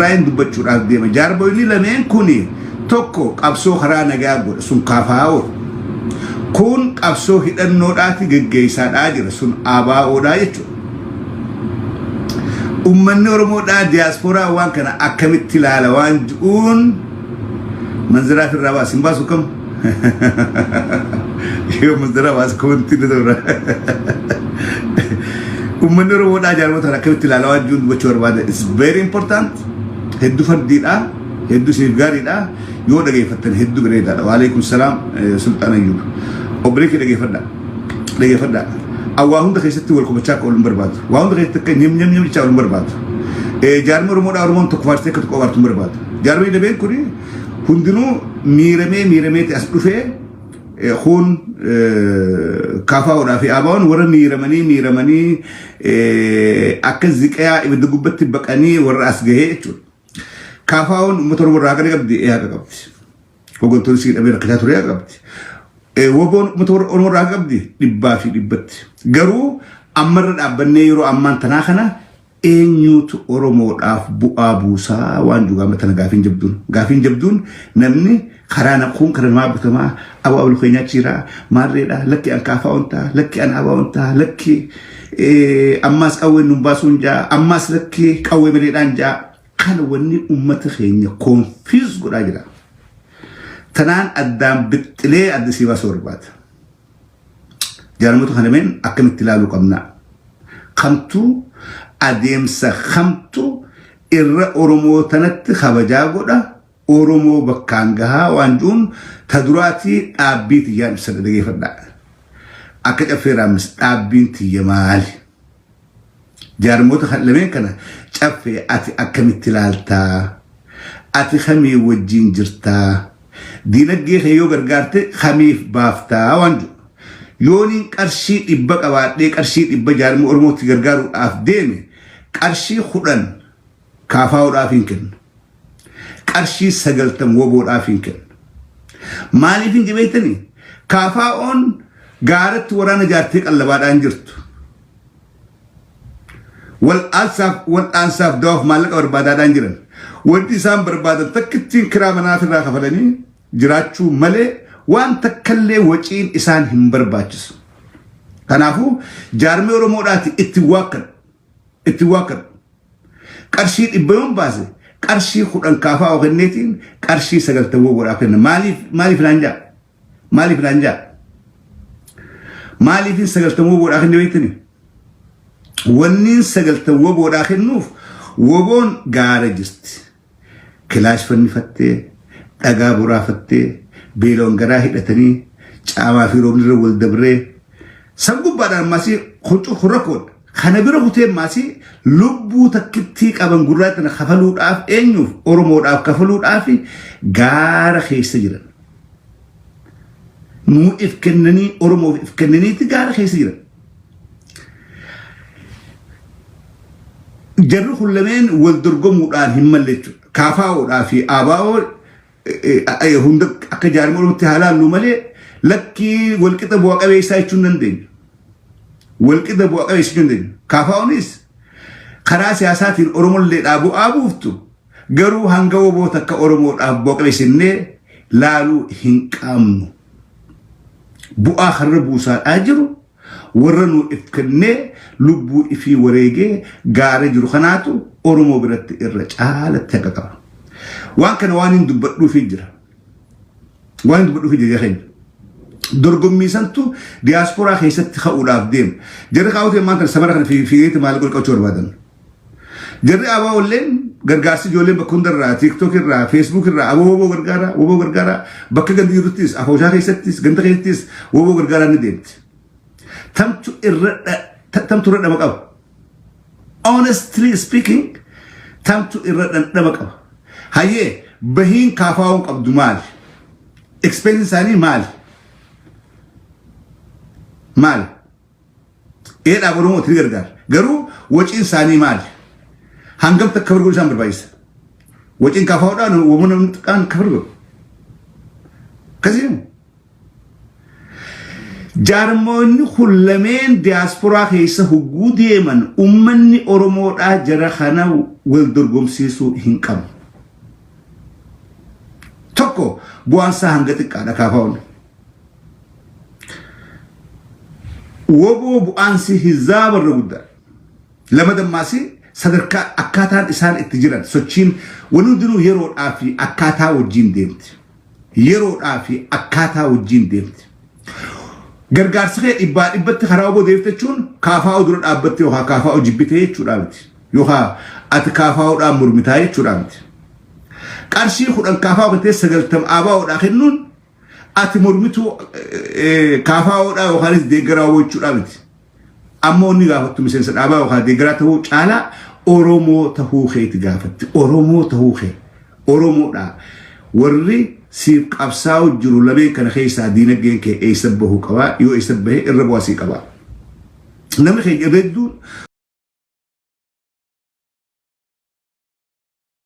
Ukrain dubbachuudhaaf deema. Jaarmoyni lameen kun tokko qabsoo karaa nagaa godha sun kaafaa'oodha. Kun qabsoo hidhannoodhaati geggeessaadhaa jira sun ABOdhaa jechuudha. Uummanni Oromoodhaa diyaasporaa waan kana akkamitti ilaala waan ji'uun manziraa firraa baas hin baasu kam? Yoo musdara waas koonti ni toora. Uummanni Oromoodhaa jaarmotaan akkamitti ilaalaa waan jiruun dubbachuu barbaada. It's very important. Hedduu fardiidha. Hedduu siif gaariidha. Yoo dhageeffattan hedduu bareedaadha. Waalaikum salaam Sultaan Ayyuub. Obbolee kee dhageeffadha. Dhageeffadha. Awwaa hunda keessatti wal qubachaa akka oolun barbaadu. Waa hunda keessatti akka nyam nyam nyam jechaa oolun barbaadu. Jaarmi Oromoodhaa Oromoon tokko faartee akka tokko abaartu hin barbaadu. Jaarmi dabeen kuni Hundinuu miiramee miirameeti as dhufee kun kaafaa'uudhaa fi aabaa'uun warra miiramanii miiramanii akka ziqayaa ibidda gubbatti baqanii warra as gahee jechuudha. Kaafaa'uun uummata Oromoo irraa haqa qabdi ee haqa qabdi. Hooggantoonni sii dhabee rakkachaa ture haqa qabdi. Woboon uummata Oromoo irraa haqa qabdi dhibbaa fi dhibbatti. Garuu ammarra dhaabbannee yeroo ammaan tanaa kana Eenyuutu Oromoodhaaf bu'aa buusa waan jedhu amma tana gaafiin jabduun. Gaafiin jabduun namni karaa na kuun karaa namaa butamaa aboo ablu keenyaa achi jira maarreedha lakki an kaafaa'oon ta'a lakki an abaa'oon ta'a lakki eh, ammaas qawween nun baasuun ja'a ammaas lakki qawwee maleedhaan ja'a kana wanni ummata keenya koonfiis godhaa jira. Tanaan addaan bixxilee adda sii baasuu barbaada. Jaalamoota kana meen akkamitti ilaaluu qabna? Kamtu adeemsa kamtu irra Oromoo tanatti kabajaa godha Oromoo bakkaan gahaa waan jiruun ta duraatii dhaabbii tiyyaan ibsadha dhageeffadhaa. Akka caffee raammis dhaabbiin tiyya maali? Jaarmoota kan lameen kana Caffee ati akkamitti ilaaltaa? Ati kamii wajjin jirtaa? Diinaggee kee yoo gargaarte kamiif baaftaa waan jedhu. Yooniin qarshii dhibba qabaadhee qarshii dhibba jaarmii Oromootti gargaaruudhaaf deeme qarshii kudhan KFOdhaaf hin kennu. Qarshii 90 WBOdhaaf hin kennu. Maaliif hin beektanii? KFOn gaaratti waraana jaartee qallabaadhaan jirtu. Wal'aansaaf wal'aansaaf dawaaf maallaqa barbaadaadhaan jiran. Wanti isaan barbaadan takkittiin kiraa manaa irraa kafalanii jiraachuu malee waan takkallee waciin isaan hin barbaachisu. Kanaafuu jaarmee Oromoodhaati itti waakkadhu. itti waakkadhu. Qarshii dhibba yoon baase qarshii kudhan kaafaa kenneetiin qarshii sagaltan goggoodhaaf kenna. Maaliif maaliif naan jaa? Maaliif naan jaa? Maaliifin sagaltan goggoodhaa kenne beektani? Wanniin sagaltan woboodhaa kennuuf woboon gaara jirti. Kilaash fannifattee, dhagaa boraafattee, beelawaan garaa hidhatanii, caamaa fi roobni irra wal dabree, san gubbaadhaan maasii kun cufu rakkoodha. Kana bira kutee maasii lubbuu takkittii qaban gurraacha tana kafaluudhaaf eenyuuf Oromoodhaaf kafaluudhaaf gaara keessa jiran. Nuu if kennanii Oromoof if kennaniiti gaara keessa jiran. Jarri kun lameen wal dorgomuudhaan hin malle jechuudha. Kaafaa'oodhaa fi Aabaa'oo hunda akka jaarmolumatti haa laallu malee lakkii walqixa bu'a qabeessaa jechuun dandeenya. Walqixa bu'a qabeessa jechuun dandeenya. Kaafaa'oonis karaa siyaasaatiin Oromolleedhaa bu'aa buuftu garuu hanga woboo takka Oromoodhaaf bu'a qabeessinnee laaluu hin qabnu. bu'aa kanarra buusaadhaa jiru warra nuu if kennee lubbuu ifii wareegee gaara jiru kanaatu Oromoo biratti irra caalatti haqa qaba. Waan kana waan hin dubbadhuufi jira. Waan hin dubbadhuufi jira keenya. Dorgommii santu diyaasporaa keessatti ka'uudhaaf deema. Jarri kaa'uutiin maal kana samara kana fiigeeti maal qolqachuu barbaadan. Jarri abaa olleen gargaarsi ijoolleen bakka hundarraa tiiktook irraa feesbuuk irraa aboo woboo gargaaraa woboo gargaaraa bakka gandi jiruttis afooshaa keessattis ganda keessattis woboo gargaaraa ni deemti. Tamtu irra tamtu irra dhama qaba. Honestly speaking tamtu irra dhandhama qaba. Hayyee bahiin kaafaa'uun qabdu maali? Expense isaanii maali? Maali? Ee dhaaba Oromooti ni gargaara. Garuu waciin isaanii maali? Hangamta akka bargoon isaan barbaachisa? Waciin kaafaa'uudhaan wamuu namni xiqqaan akka bargoon. Akkasiin jaarmoonni kun lameen diyaasporaa keessa hogguu deeman ummanni Oromoodhaa jara kana wal dorgomsiisuu hin qabu. Tokko bu'aan isaa hanga xiqqaadha kaafaa'uun. Woboo bu'aansi hizaaba irra guddaa. Lama dammaasi sadarkaa akkaataan isaan itti jiran sochiin wani hundinuu yeroodhaa fi akkaataa wajjiin deemti. Yeroodhaa fi akkaataa wajjiin deemti. Gargaarsi kee dhibbaa dhibbatti karaa oboo deebifte jechuun kaafaa'oo dura dhaabbatte yookaan kaafaa'oo jibbitee jechuudhaa miti. Yookaan ati kaafaa'oodhaan mormitaa jechuudhaa miti. Qarshii kudhan kaafaa'oo kennitee sagaltam aabaa'oodhaa kennuun Ati mormituu KFO dhaa yookaanis deeggaraa wbo jechuudhaa miti. Amma wanni gaafattu miseensa dhaabaa yookaan deeggaraa tahuu caalaa Oromoo tahuu keeti gaafatti. Oromoo tahuu kee. Oromoodhaa. Warri siif qabsaa'u jiru lameen kana keessaa diinaggeen kee eessa bahuu qabaa yoo eessa bahe irra bu'aa sii qabaa. Namni keenya irra hedduun